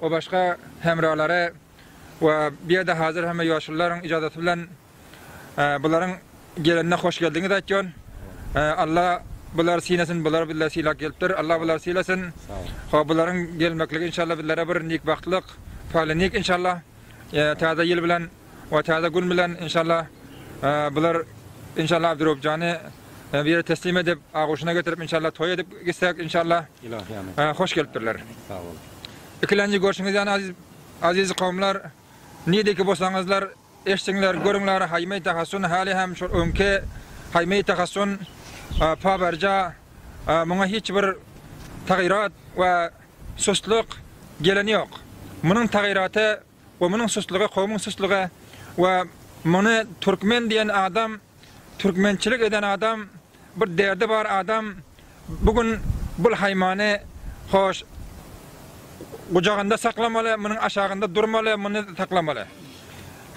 we başga hemralary we bu ýerde hazir hemme ýoşulylaryň yjadaty bilen bularyň gelenine hoş geldiňiz aýtýon. Alla bulary sylasyn, bulary bizle sylap gelipdir. Alla bulary sylasyn. Ho bularyň gelmekligi inşallah bizlere bir nikbagtlyk, paýly nik inşallah. Täze ýyl bilen. O täze gün bilen inşallah bular inşallah Abdyrobjany bir ýere teslim edip agoşuna getirip inşallah toý edip gitsek inşallah Ilahyýa hoş gelipdirler. Sag boluň. Ikilenji görşüňiz ýany aziz aziz kowumlar nideki bolsaňyzlar eşdiňler görüňler haýmy tahassun hali hem şu öňki haýmy tahassun pabarja muňa hiç bir tagyrat we sustlyk geleni ýok. Munuň tagyraty Gomynyň suslugy kowmyň suslugy we muny türkmen diýen adam türkmençilik eden adam bir derdi bar adam bu gün bul haýmany hoş gujagynda saklamaly munyň aşagynda durmaly muny saklamaly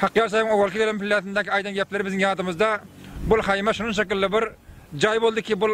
Hakyýar Saýybyň owalky gelen pillesindäki aýdan gepleri biziň ýadymyzda bul haýma şunuň şekilli bir jaý boldy ki bul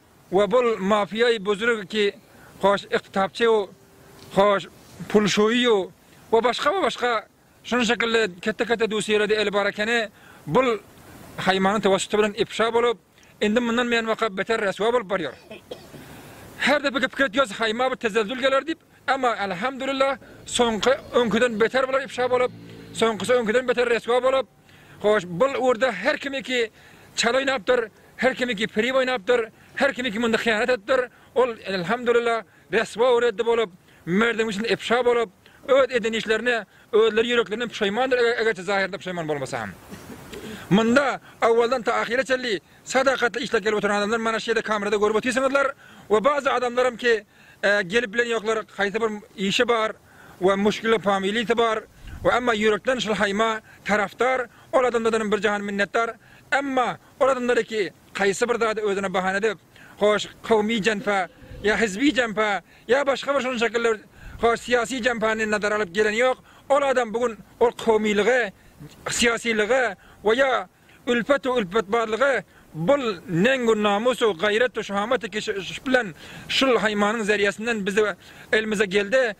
Wa bul mafiýaý buzrug ki hoş yktapçyw hoş pul şuýu wa başga wa başga şun şekilli kette kette dusýerede eli bar ekeni bul haýmanyň tewassuty bilen ipşa bolup indi mundan beýan waka beter reswa bolup barýar her depe gepik etýas haýma bir tezezzül geler dip emma alhamdulillah soňky öňkiden beter bular ipşa bolup soňkysy öňkiden beter reswa bolup. Hoş, bul ugurda her kimiki çal oýnapdyr, her kimiki pirim oýnapdyr, her kimiki munda hyýanat edipdir, ol, elhamdulillah, reswa we reddi bolup, merdem içinde ifşa bolup, öz eden işlerine özleri ýüreklerinden puşaýmandyr, egerçe zahyrynda puşaýman bolmasa hem. Munda awaldan ta ahyra çenli sadakatly işläp gelip oturan adamlar mana şu ýerde kamerada görüp otyrsyňyzlar we bazı adamlaram ki, gelip bilen ýoklar, haýsy bir işi bar, we muşkili familiýasy bar we emma ýürekden şul haýyma tarafdar, ol adamlardanam bir jahan minnetdar, emma ol adamlariki haýsy bir zady özüne bahana edip, hoş kowmy jenpä ýa hizbi jenpä ýa başga bir şunuň şekiller hoş syýasy jenpäni nazara alyp geleni ýok, ol adam bu gün ol kowmylygy, syýasylygy we ýa Ülfet-u ülpet barlygy bul neň-u namus-u gaýrat-u şahamat-u keşiş bilen şul haýmanyň zeriýesinden bize elimize geldi.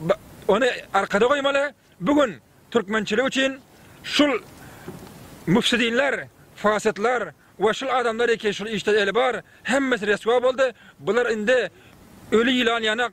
B ony arkada goýmaly. Bu gün türkmençilik üçin şul müfsidinler, fasytlar we şul adamlar eken şul işde eli bar, hemmesi reswa boldy. Bular indi öli ýylan ýanak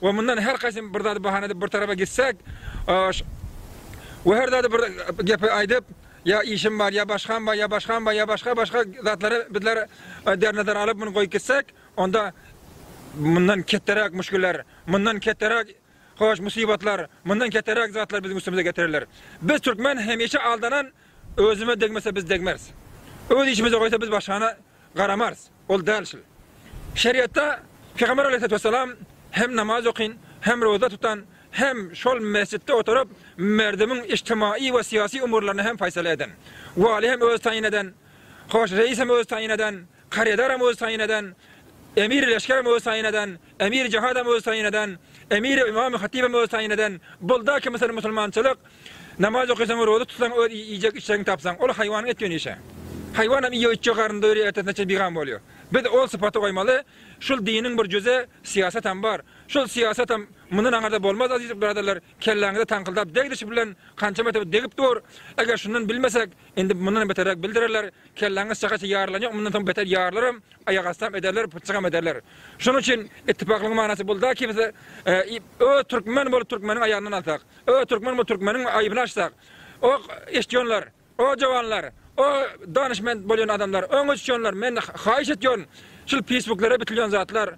we mundan her haýsym bir zady bahana edip bir tarapa gitsek we her zady bir gepi aýdyp ýa işim bar ýa başgam bar ýa başgam bar ýa başga başga zatlary bizler dernazara alyp muny goýup gitsek onda mundan ketderäk muşgiller mundan ketderäk hoş musibatlar mundan ketderäk zatlar biziň üstümize getiriler biz türkmen hemişe aldanan özüme degmese biz degmeris öz işimize goýsa biz başgana garamarys. Ol däl şul. Şeriatda Pygamber Aleýhissalatu wessalam hem namaz okyn, hem roza tutan, hem şol mesjitde oturyp merdimiň ijtimaiý we syýasy umurlaryny hem faýsala eden. Waly hem özi taýyn eden, hoş reýis hem özi taýyn eden, karyadaram özi taýyn eden, emiri leşgerem özi taýyn eden, Emir Jahatam öz taýyn eden, Emir Ymamy Hatibem öz taýyn eden, bolda ki mysal musulmançylyk, namaz okaýsaň roza tutsaň öz iýjek içjegiňi tapsaň, ol haýwanyň et ýöne işe. Haýwanam iýjek içjek garnynda ýörýär ertesine çen bigam bolýar. Biz ol sypaty goýmaly, şul diniň bir jüze syýasatam bar. Şul syýasatam mundan aňyrda bolmaz aziz biradallar kelläňize taňkyldap degdiş bilen kança mertebe degip dur, eger şundan bilmesek, Indi mundanam beterräk bildirerler. Kelläňiz şahyçy ýarylan ýok, mundan soň beter ýarylaram, aýakastam ederler, pytjagam ederler. Şonuň üçin itipaklygyň manasy bulda ki biz öz türkmen bolup türkmeniň aýagyndan alsak, öz türkmen bolup türkmeniň aýbyny açsak, o eşitýonlar, o jawanlar, o danyşment bolýan adamlar, öňe düşýonlar, men haýyş etýän şul pisbuklara bitilýän zatlar,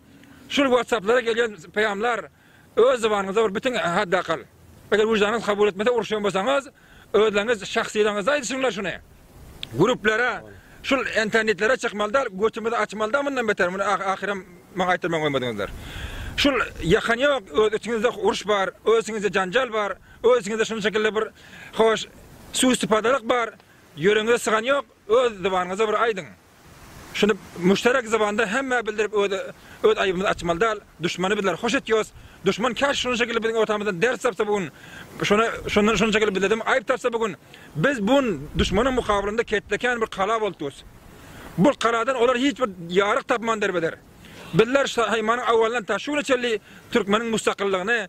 şul watsaplara gelýän peýamlar, Öz zybanyňyzda bir bitin haddakal. Eger wyždanyňyz kabul etmese uruşýan bolsaňyz, özleriňiz şahsylygyňyzda aýdyşyňlar şuny. Gruplara, şul entanitlere çykmaly däl, götümizi açmaly da mundan beter, muny ahyram maňa aýtdyrman goýmadyňyzlar. Şul ýakan ýok, öz içiňizde uruş bar, öz içiňizde janjal bar, öz içiňizde şunuň şekilli bir hoş suiistipadalk bar, ýüregiňize sygan ýok, öz zybanyňyzda bir aýdyň. Şuny müşterek zybanda hemmä bildirip öz öz aýybymyzy açmaly dal, duşmany bizler hoş etýos, duşman käşi şuny şekilli biziň ortamyzdan ders tapsa bu gün, şuny şundan şuny şekilli bizledem aýyp tapsa bu gün, biz bu gün duşmanyň mukabylynda ketde kän bir kala bolup durys. Bu kaladan olar hiç bir ýaryk tapman derbeder. Bizler şaýmanyň awalyndan ta şu güne çenli türkmeniň mustaqyllygyny,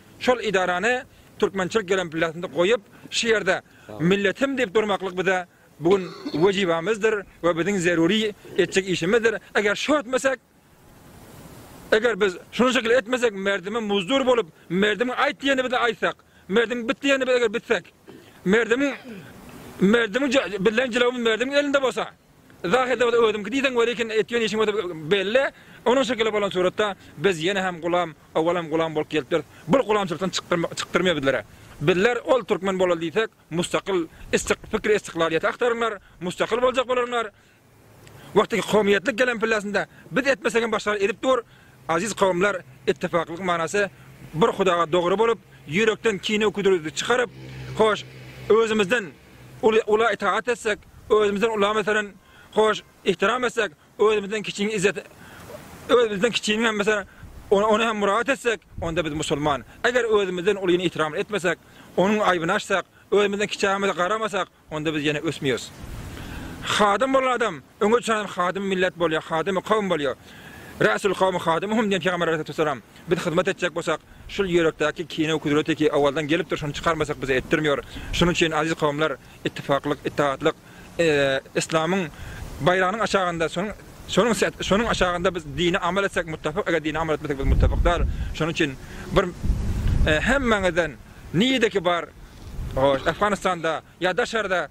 Şol edarany türkmençilik gelempilasynda goýup, şu ýerde milletim diýip durmaklyk bize bu gün wejibamyzdyr we biziň zerury etjek işimizdir. Eger şo etmesek, eger biz şunuň şekili etmesek, merdime muzdur bolup, merdimiň aýt diýenini bize aýtsak, merdimiň bit diýenini biz eger bitsek, merdimiň merdimiň bizleň jylawymyz merdimiň elinde bolsa, Yzah edemez özümki diýseň welikin etýän işiň özi belli onuň şekili bolan suratda biz ýene hem gulam owalam gulam bolup gelipdiris bir gulamçylykdan çykdyrmýar bizlere bizler ol türkmen bolaly diýsek mustakyl istik pikri istiklalýeti agtaryňlar mustakyl boljak bolarňlar wagtyky kowmyýetlik gelen pillesinde biz etmesegem başgalar edip dur aziz kowumlar ittifaklyk manasy bir hudaga dogry bolup ýürekden kine küdürdi çykaryp hoş özümizden Ula itagat etsek, özümizden ula meselem, hoş, ihtiram etsek, özümizden kiçiniň izzet, öz bizden kiçiniň hem meselem, ony, ony hem muragat etsek, onda biz musulman. Eger özümizden ulyny ihtiram etmesek, onuň aýbyny açsak, özümizden kiçämize garamasak, onda biz ýene ösmeýäs. Hadym bolan adam, öňe çykan adam hadym millet bolýar, hadymy kowum bolýar. Rasul kowmi hadymuhum diýen Pygamber aleyhissalatu wessalam. Biz hyzmat etjek bolsak, şul ýürekdäki kine kudreteki owaldan gelipdir şony çykarmasak bize etdirmiyor. Şunuň üçin aziz kowumlar ittifaklyk, ittihatlyk islamyň baýragynyň aşagynda şonuň şonuň aşagynda biz dini amal etsek muttafyk eger dini amal etmesek biz muttafyk dal. Şonuň üçin bir hemmäňizden nideki bar Afganistanda ýa daşarda